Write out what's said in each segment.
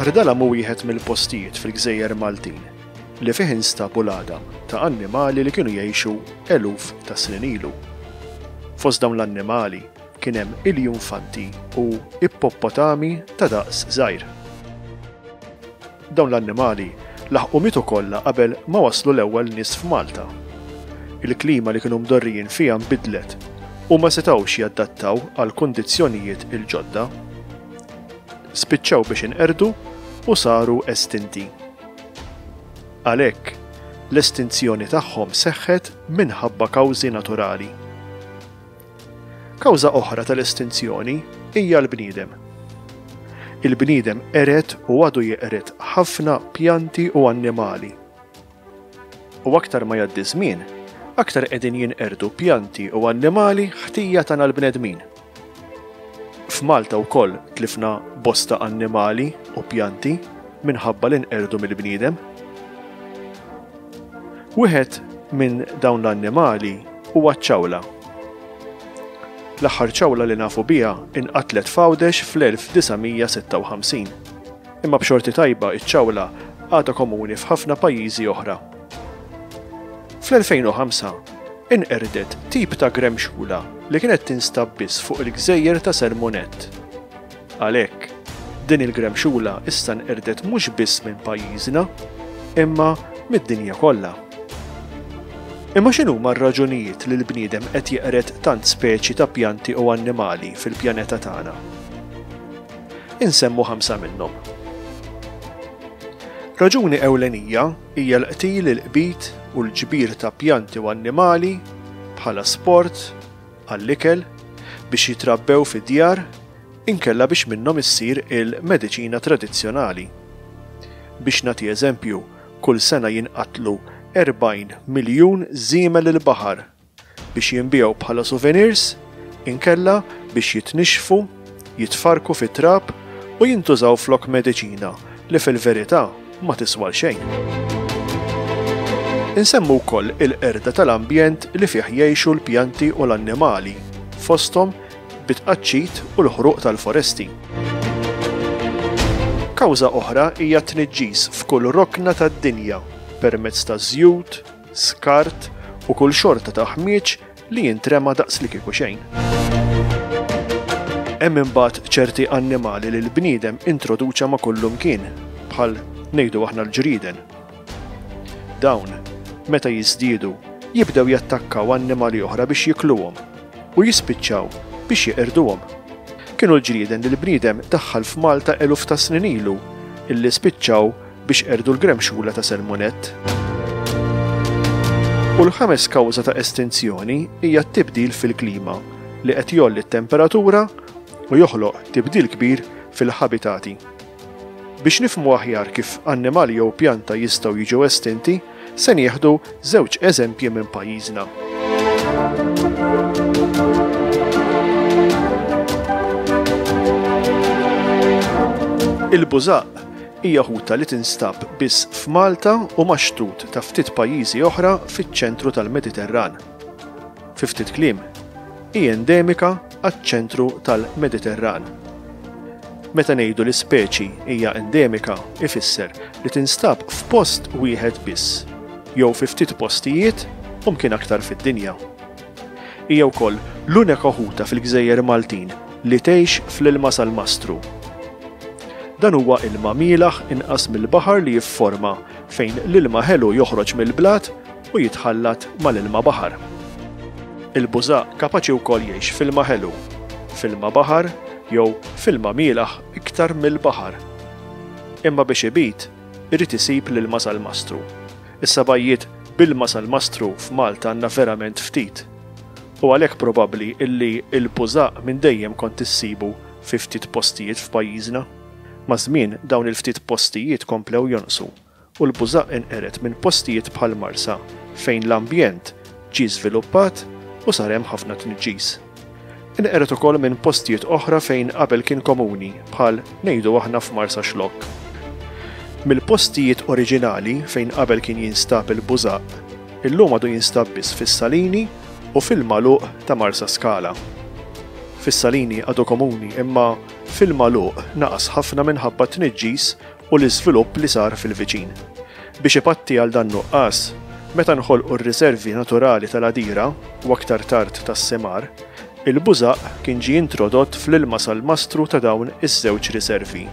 Ardala mu wieħed mill-postijiet fil-gżejjer Maltin li fih instabu l-għadam ta' annimali li kienu jgħixu eluf ta' snin ilu. Fost dawn l-annimali kien hemm iljunfanti u ippopotami ta' daqs żgħir. Dawn l-annimali laħqu mitu kollha qabel ma waslu l-ewwel nies f'Malta. Il-klima li kienu mdorrijin fiha nbidlet u ma setgħux jaddattaw għall-kundizzjonijiet il-ġodda. Spiċċaw biex inqerdu u saru estinti. Għalhekk, l-estinzjoni tagħhom seħħet minħabba kawżi naturali. Kawża oħra tal-estinzjoni hija l-bniedem. Il-bniedem qered u għadu jeqred ħafna pjanti u annimali. U aktar ma jgħaddi żmien, aktar qegħdin jinqerdu pjanti u annimali ħtija tagħna l-bnedmin. F'Malta wkoll tlifna bosta annimali u pjanti minħabba li nqerdu mill-bniedem. Wieħed minn dawn l-annimali huwa ċ-ċawla. L-aħħar ċawla li nafu biha inqatlet f'Għawdex fl-1956. Imma b'xorti tajba iċ-ċawla għadha komuni f'ħafna pajjiżi oħra. Fl-2005, inqerdet tip ta' gremxula li kienet tinstab biss fuq il-gżejjer ta' Sermonett. Għalhekk, din il-gremxula issa nqerdet mhux biss minn pajjiżna, imma mid-dinja kollha. Imma x'inhuma r-raġunijiet li l-bniedem qed jeqred tant speċi ta' pjanti u annimali fil-pjaneta tagħna? Insemmu ħamsa minnhom. Raġuni ewlenija Hija l-qtil, il-qbid u l-ġbir ta' pjanti u annimali bħala sport, għall-ikel, biex jitrabbew fid-djar, inkella biex minnhom issir il-mediċina tradizzjonali. Biex nagħti eżempju, kull sena jinqatlu 40 miljun żiemel il-baħar biex jinbiegħu bħala souvenirs inkella biex jitnixxfu, jitfarrku fit-trab u jintużaw flok mediċina li fil-verità ma tiswa l-xejn. Insemmu wkoll il-qerda tal-ambjent li fih jgħixu l-pjanti u l-annimali, fosthom bit-tqaċċit u l-ħruq tal-foresti. Kawża oħra hija t-tniġġis f'kull rokna tad-dinja permezz taż-żjut, skart u kull xorta ta' ħmieġ li jintrema daqs li kieku xejn. Hemm imbagħad ċerti annimali li l-bniedem introduċa ma' kullu mkien, bħal ngħidu aħna l-ġrieden. Dawn, meta jiżdiedu, jibdew jattakkaw annimali oħra biex jikluhom u jispiċċaw biex jeqirduhom. Kienu l-ġrieden li l-bniedem daħħal f'Malta eluf ta' snin ilu illi spiċċaw biex qerdu l-gremxula ta' Selmunett. U l-ħames kawża ta' estinzjoni hija t-tibdil fil-klima li qed jolli t-temperatura u joħloq tibdil kbir fil-ħabitati. Biex nifmu aħjar kif annimali jew pjanta jistgħu jiġu estinti, se nieħdu żewġ eżempji minn pajjiżna. Il-bużaq Hija ħuta li tinstab biss f'Malta u max-xtut ta' ftit pajjiżi oħra fiċ-ċentru tal-Mediterran. Fi ftit kliem, hi endemika għaċ-ċentru tal-Mediterran. Meta ngħidu li speċi hija endemika ifisser li tinstab f'post wieħed biss, jew fi ftit postijiet u mkien aktar fid-dinja. Hija wkoll l-unika ħuta fil-gżejjer Maltin li tgħix fl-ilma salmastru. Dan huwa ilma mielaħ inqas mill-baħar li jifforma fejn l-ilma ħelu joħroġ mill-blat u jitħallat mal-ilma baħar. Il-bużaq kapaċi wkoll jgħix f'ilma ħelu, f'ilma baħar jew f'ilma mielaħ iktar mill-baħar. Imma biex ibid, irid isib l-ilma salmastru. Is-sabgħijiet b'ilma sal-mastru f'Malta għandna verament ftit. U għalhekk probabbli illi l-bużaq minn dejjem kont issibu fi ftit postijiet f'pajjiżna. Maż-żmien dawn il-ftit postijiet komplew jonqsu u l-bużaq inqered minn postijiet bħall-Marsa fejn l-ambjent ġie żviluppat u sar hemm ħafna tniġġis. Inqered ukoll minn postijiet oħra fejn qabel kien komuni, bħal ngħidu aħna f'Marsaxlokk. Mill-postijiet oriġinali fejn qabel kien jinstab il-bużaq, illum għadu jinstab biss fis-Salini u fil-magħluq ta' Marsaskala. Fis-Salini għadu komuni imma fil-magħluq naqas ħafna minħabba t-tniġġis u l-iżvilupp li sar fil-viċin. Biex ipatti għal dan nuqqas, meta nħolqu r-riservi naturali tal-Għadira u aktar tard tas-Semar, il-bużaq kien ġie introdott fl-ilma sal-mastru ta' dawn iż-żewġ riservi,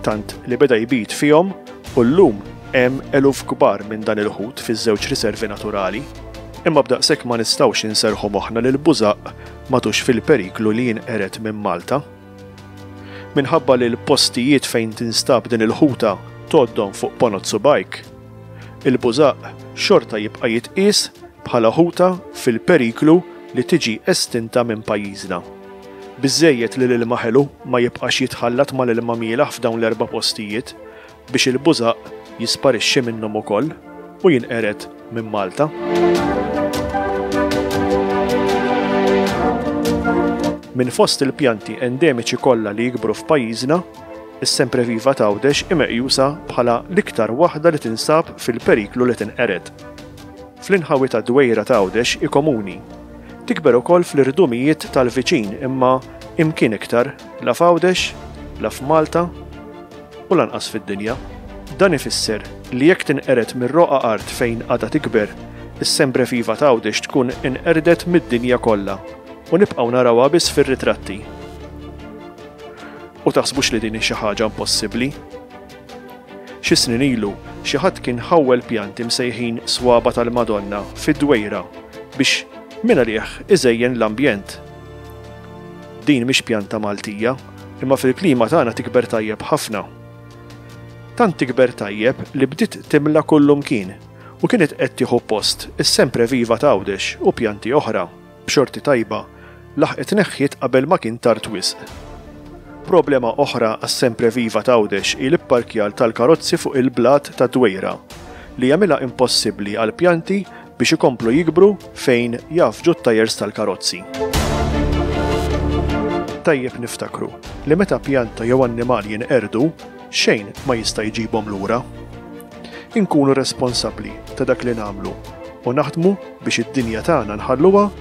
tant li beda jbid fihom u llum hemm eluf kbar minn dan il-ħut fiż-żewġ riservi naturali. Imma b'daqshekk ma nistgħux inserrħu moħħna li l-bużaq m'għadux fil-periklu li jinqered minn Malta. Minħabba li l-postijiet fejn tinstab din il-ħuta tgħoddhom fuq ponot subgħajk, il-bużaq xorta jibqa' jitqies bħala ħuta fil-periklu li tiġi estinta minn pajjiżna. Biżżejjed li l-ilma ħelu ma jibqax jitħallat mal-ilma mielaħ f'dawn l-erba' postijiet biex il-bużaq jisparixxi minnhom ukoll u jinqered minn Malta. Minn fost il-pjanti endemiċi kollha li jikbru f'pajjiżna, is-sempreviva t'Għawdex hi meqjusa bħala l-iktar waħda li tinsab fil-periklu li tinqered. Fl-inħawi tad-dwejra t'Għawdex hi komuni. Tikber ukoll fl-irdumijiet tal-viċin imma imkien iktar la f'Għawdex, la f'Malta, u lanqas fid-dinja. Dan ifisser li jekk tinqered mir-roqgħa art fejn għadha tikber, is-Sembre Viva t'Għawdex tkun inqerdet mid-dinja kollha u nibqgħu narawha biss fir-ritratti. U taħsbux li din hi xi ħaġa impossibbli. Xi snin ilu, xi ħadd kien ħawwel pjanti msejħin Swaba tal-Madonna fid-Dwejra biex mingħalih iżejjen l-ambjent. Din mhix pjanta Maltija. imma fil-klima tagħna tikber tajjeb ħafna. Tant tikber tajjeb li bdiet timla kullumkien u kienet qed tieħu post is-sempre viva ta' Għawdex u pjanti oħra b'xorti tajba laħqet neħħiet qabel ma kien tard wisq. Problema oħra għas-sempre viva ta' Għawdex hi l-ipparkjar tal-karozzi fuq il-blat tad-dwejra li jagħmilha impossibbli għall-pjanti biex ikomplu jikbru fejn jgħaffġu t-tajers tal-karozzi. Tajjeb niftakru li meta pjanta jew annimal jinqerdu, xejn ma jista' jġibhom lura. Inkunu responsabbli ta' dak li nagħmlu u naħdmu biex id-dinja tagħna nħalluha